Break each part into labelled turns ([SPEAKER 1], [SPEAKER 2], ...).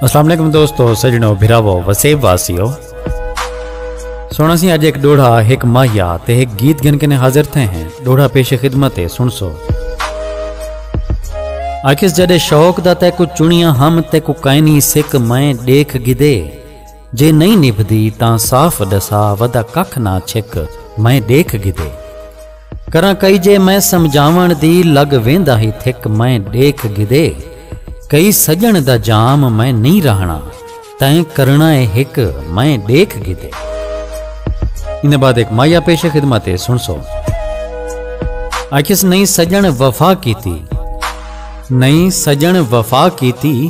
[SPEAKER 1] السلام علیکم دوستو سجنو بھراو وسیب واسیو سونا سی اج ایک ڈوڑا ایک ماہیا تے ایک گیت گن کے حاضر تھے ہیں ڈوڑا پیش خدمت ہے سن سو آخس جدے شوق دا تے کو چنیا ہم تے کو کائنی سک میں دیکھ گدے جے نئیں نبھدی تاں صاف ڈسا ودا ککھ نہ چھک میں ڈیکھ گھدے کراں کئی جے میں سمجھاون دی لگ ویندا ہی تھک میں ڈیکھ گھدے کئی سجن دا جام میں نہیں رہنا تیں کرنا اے ہک میں ڈیکھ گھدے ان بعد ایک مایا پیش خدمت ہے سن سو اکھس نہیں سجن وفا کیتی نہیں سجن وفا کیتی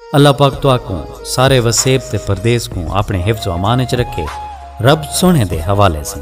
[SPEAKER 1] اللہ پاک تہاکوں سارے وسیب تے پردیس کوں اپنے حفظ و امان وچ رکھے رب سوہنے دے حوالے سن